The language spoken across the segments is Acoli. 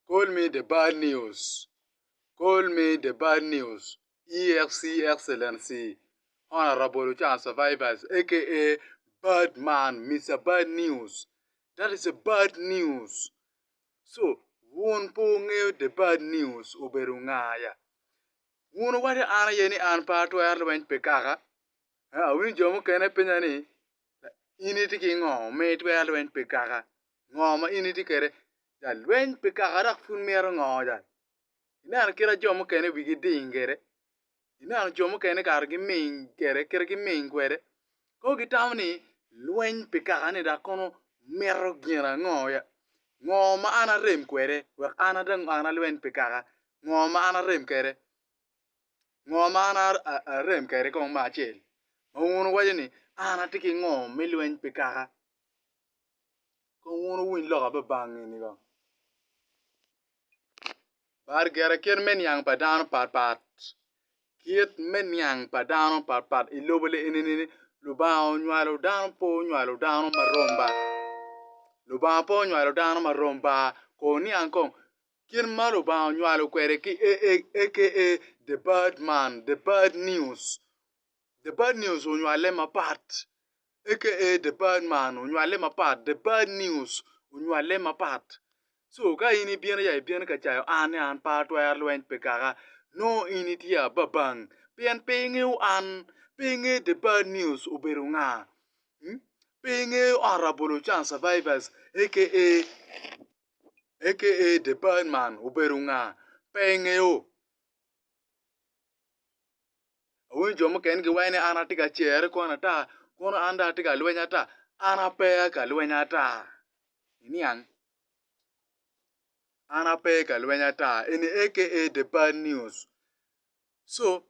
Call me the bad news, Call me the bad news, EXC Excellency Honourable Ocanga Survivors aka bad man Mister bad news that is a bad news so wun pe wungeyo the bad news obedo nga ya? Wun wuwaco an aye ni an pe atwero lweny pi kaka, awinyo jo mukene penyo ni in itye ki ngo ma itwero lweny pi kaka? Ngo ma in itye kwede? Jal, Lweny pe kaka dok pud mito ngo jal. Ineno kit ma jo mukene wigi ding kwede. Ineno jo mukene kare giming kwede kit ma giming kwede. Kono gitamo ni lweny pe kaka ni dok kono mito gin ango ya? Ngo ma an arem kwede wek an adong an alweny pe kaka? Ngo ma an arem kwede? Ngo ma an arem kwede kong me acel? Ma wun wuwaco ni an atye ki ngo me lweny pe kaka? Kong wun wuwiny lok ape bang eni kong. Bar gire kit me niang pa dano pat pat. Kit me niang pa dano pat pat i lobo le eni ni Lubanga onywalo dano pe onywalo dano ma rom ba. Lubanga pe onywalo dano ma rom ba. Ko wuniang kong kit ma Lubanga onywalo kwede ki aka the bad man, the bad news. The Bad News onywale mapat aka The Bad Man onywale mapat, The Bad News onywale mapat. So ka in ibino ya ibino ka cayo an ni an pe atwero lweny pi kaka, nongo in itye ababang pien pe ingeyo an, pe ingeyo The Bad News obedo nga, pe ingeyo ot labolo can survivors aka aka The Bad Man obedo nga, pe ingeyo. Awinyo jo mukene giwaco ni an atye ka cere kwon ata, kono an dong atye ka lweny ata? An ape ka lweny ata. Iniang, an ape ka lweny ata, eni aka the bad news. So,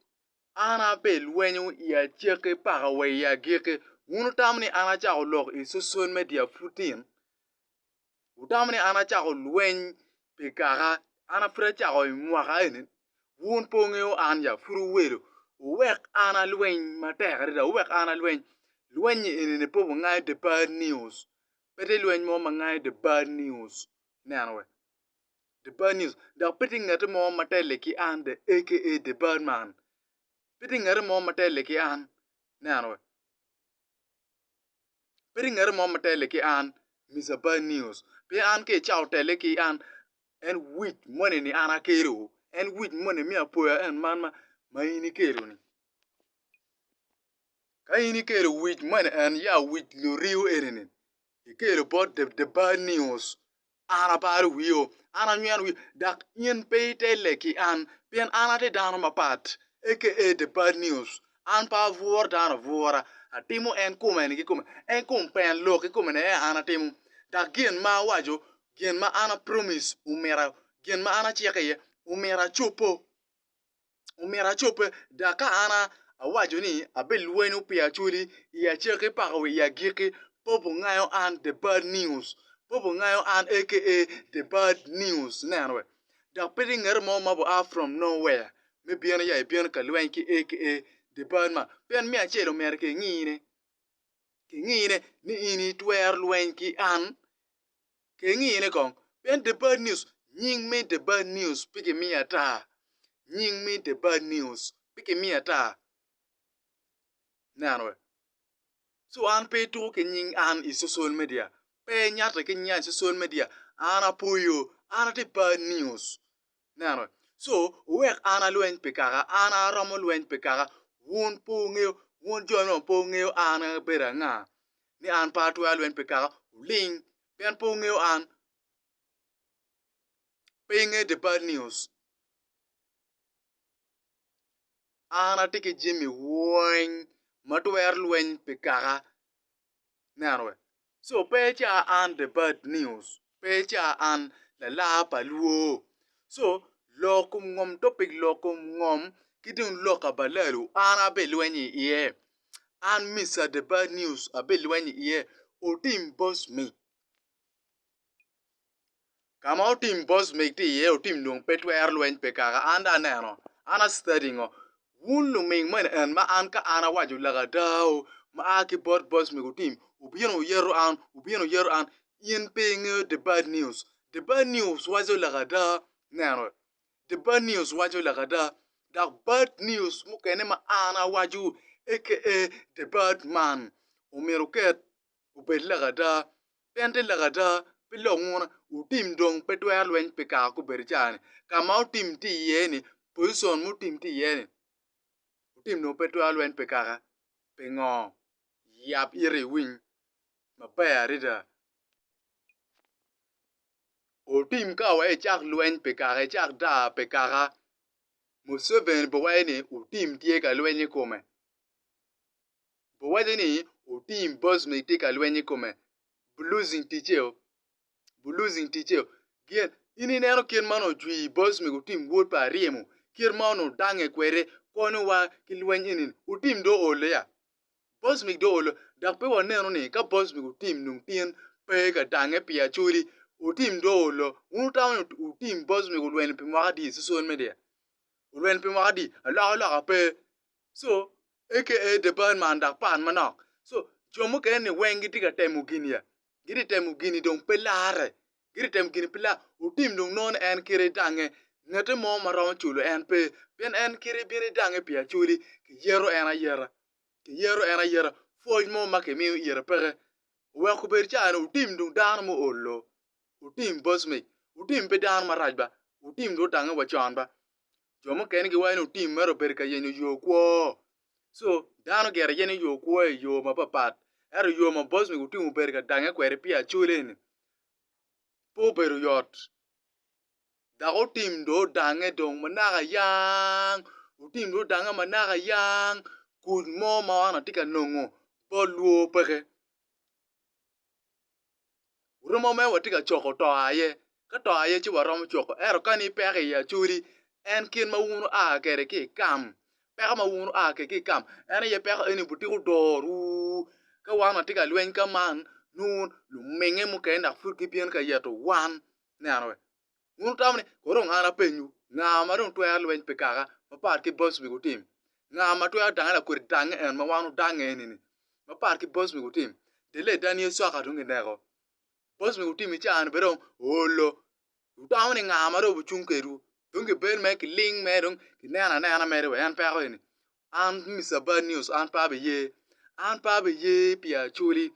an ape i lweny i acakki paka wa i agikki. Wun wutamo ni an acako lok i social media pud tin? Wutamo ni an acako lweny pi kaka an apud acako i mwaka eni? Wun pe wungeyo an ya pud wuwelo wuwek an alweny matek adada, wuwek an alweny lweny eni pe wungayo i The Bad News, pe tye lweny mo ma ngayo i The Bad News, ineno wee? The Bad News, dok pe tye ngati mo ma telle ki an aka The Bad Man, pe tye ngati mo ma telle ki an, ineno wee? Pe ringati mo ma telle ki an, Mister Bad News, pien an ka icato telle ki an, en wic moni ni an akelo, en wic moni me apoya en man ma in ikelo-ni. Ka in ikelo wic moni en ya wic luriu eni-ni, ikelo bot The Bad News, An aparo wio, an anyweno wio, dok in pe itelle ki an, pien an atye dano mapat. Aka The Bad News, An pe abworo dano abwora, atimo en kume-ni ki kume, en kong pen lok ki kome-ni aye an atimo. Dok gin ma awaco, gin ma an apromis, omyero, gin ma an aciko iye, omyero acobbo. omyero acobbe, dok ka an awaco ni abilwenyo pi Acholi i acakki paka wa i agikki, Popo ngayo an The Bad News, Popo ngayo an aka The Bad News, ineno wee? Dok pe tye ngat mo ma bua from no where me bino ya ibino ka lweny ki aka The Bad man, pien me acel omyero kingine, kingine ni in itwero lweny ki an. Kengine kong, pien The Bad News, nying me The Bad News pe kimiyo ata. Nying me The Bad News pe kimiyo ata. Nen wek. So an pe ituko ki nying an i social media. Pe inyatte ki nyinga i social media. An apoyo. An ati Bad News. Ineno? Co, wuwek an alweny pi kaka, an aromo lweny pi kaka, wun pe wungeyo, wun joni onongo pe wungeyo an abedo anga, ni an pe atwero lweny pi kaka, wuling, pien pe wungeyo an. Pe ingeyo The Bad News? An atye ki jami weng ma twero lweny pi kaka, Ineno wee? So pe ica an the bad news, pe ica an lalar pa lwo. So lok kom ngom topic lok kom ngom ki dong lok kabalalu an abilweny i iye. An Mister the bad news abilweny i iye otim boss me. Kama otim boss meg tye iye otim dong pe twero lweny pe kaka an dong aneno an a study ngo wun luming mo eni en ma an ka an awaco laka adao ma a ki bot boss mego otim wubino wuyeto an wubino wuyeto an in pe ingeyo the bad news the bad news waco laka ada neno the bad news waco laka ada dok bad news mukene ma an awaco aka the bad man omyero oket obed lakada, pien te lakada pe lok nguna, otim dong pe twero lweny pi kaka gubedo cani, kama otim tye iye ni, position ma otim tye iye ni, otim dong pe twero lweny pi kaka, pingo? yab ite iwiny maber adada, otim ka wai icak lweny pi kaka, icak daa pi kaka, Museveni pe wai ni otim tye ka lweny ikome, Bo waco ni oting boss ma itye ka lweny i kome. Bu losing ticceo. Bu losing ticceo. Gin, in ineno kit ma onongo cwi boss mi otim wod pa aryemo, kit ma onongo dange kwede, konyo wa ki lweny eni. Otim do oole ya? Boss mi do oole. Dok pe wanenu ni ka boss mi otim nung tin pe ka dange pi acoli, otim do oole. Wun wutamo ni otim boss mi olwenyo pi mwaka adi? Cicol me dear. Olwenyo pi mwaka adi? Aloka loka pe. So, aka the bad man dok pan manok so jo mukene ni weng gitye ka temo gin ya gitye temo gini dong pe lare gitye temo gini pe lare otim dong nono en kite idange ngete mo ma romo culo en pe pien en kite ibino idange pi acoli kiyeto en ayeta kiyeto en ayeta pwoc mo ma kimiyo ite peke wek obed cani otim dong dano ma olo otim bocmic otim pe dano marac ba otim dong otange wa con ba jo mukene giwaco ni otim mere obedo ka yenyo yo kwo. So dano gire yenyo yo kwo i yo mapapat. Ento yo ma Boswick otim obedo ka dange kwede pi acole ni pe obedo yot dok otim dong odange dong manaka yang otim dong odange manaka yang kuc mo ma an atye ka nongo bot lwor peke. Romo mere watye ka coko to aye, ka to aye ci waromo coko. Ento kani ipeko i acoli, en kit ma wun wua kwede ki i kam, peko ma wun wua kwede ki i kam, en aye peko eni butiko dorowu. Ka wan watye ka lweny ka man, nongo lumingnge mukene dok pud gibino ka yeto wan. Ineno? Wun wutamo ni, 'Kono dong an apenyowu, nga ma dong twero lweny pi kaka mapat ki boc omego otim? Nga ma twero dange lakwede dange en ma wan wadange eni-ni mapat ki boc omego otim? Delle dan Yecu cok ka tung kineko. Boc omego otim i caa-ni bene dong oolo. Wutamo ni nga ma dong obicung kedwu? Dong kibed mere kiling mere dong kineno anena mere wa en peko eni. An Mister Bad News an pe abiye. An pe abiye pi Acholi.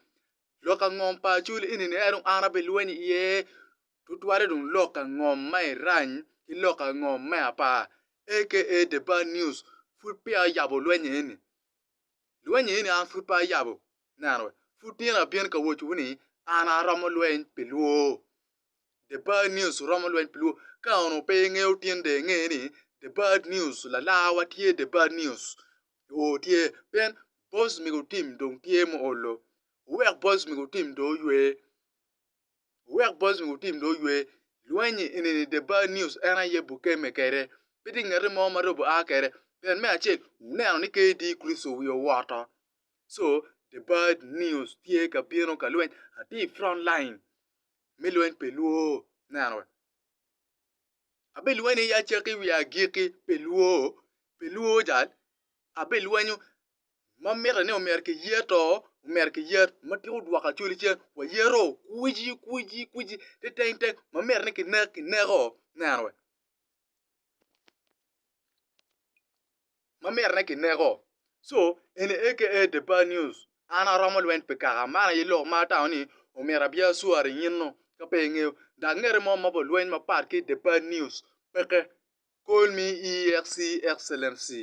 Lok angom pa Acholi eni-ni en dong an abilweny iye. tutwalle dong lok angom ma irany ki lok angom me apar aka the bad news pud peya oyabo lwenye eni lwenye eni an pud pe ayabo neno we pud tyen abin ka wocowu ni an aromo lweny pi lwor the bad news romo lweny pi lwor ka onongo pe ingeyo tin dong inge ni the bad news lalarwa tye the bad news oo tye pien boss mego tim dong tye muolo owek boss mego tim dong oywe Wuwek Bosnia wutim dong ywe lweny-nyi enini The Bar News en aye Bukeme kede. Pe tye ngati mo ma Robo a kede. Pien me acel, wuneno ni KD Kristo wi owoto. So, The Bar News tye ka bino ka lweny. Atye i front line me lweny pe lwo. Neno we. Abelwenyo ya cakki wiya agikki pe lwo. Pe lwo jal. Abelwenyo ma mitte ni omyero kiyer to omyero kiyer ma tika odwoko Acholi ce wayero kwici kwici kwici te teng teng ma mitte ni kinek kineko neno wee ma mitte ni kineko co eni aka the bad news an aromo lweny pi kaka man aye lok ma atamo ni omyero abye acwari nyeno ka pe ingeyo dok ngete mo ma pa lweny mapat ki the bad news peke call me EXE excellency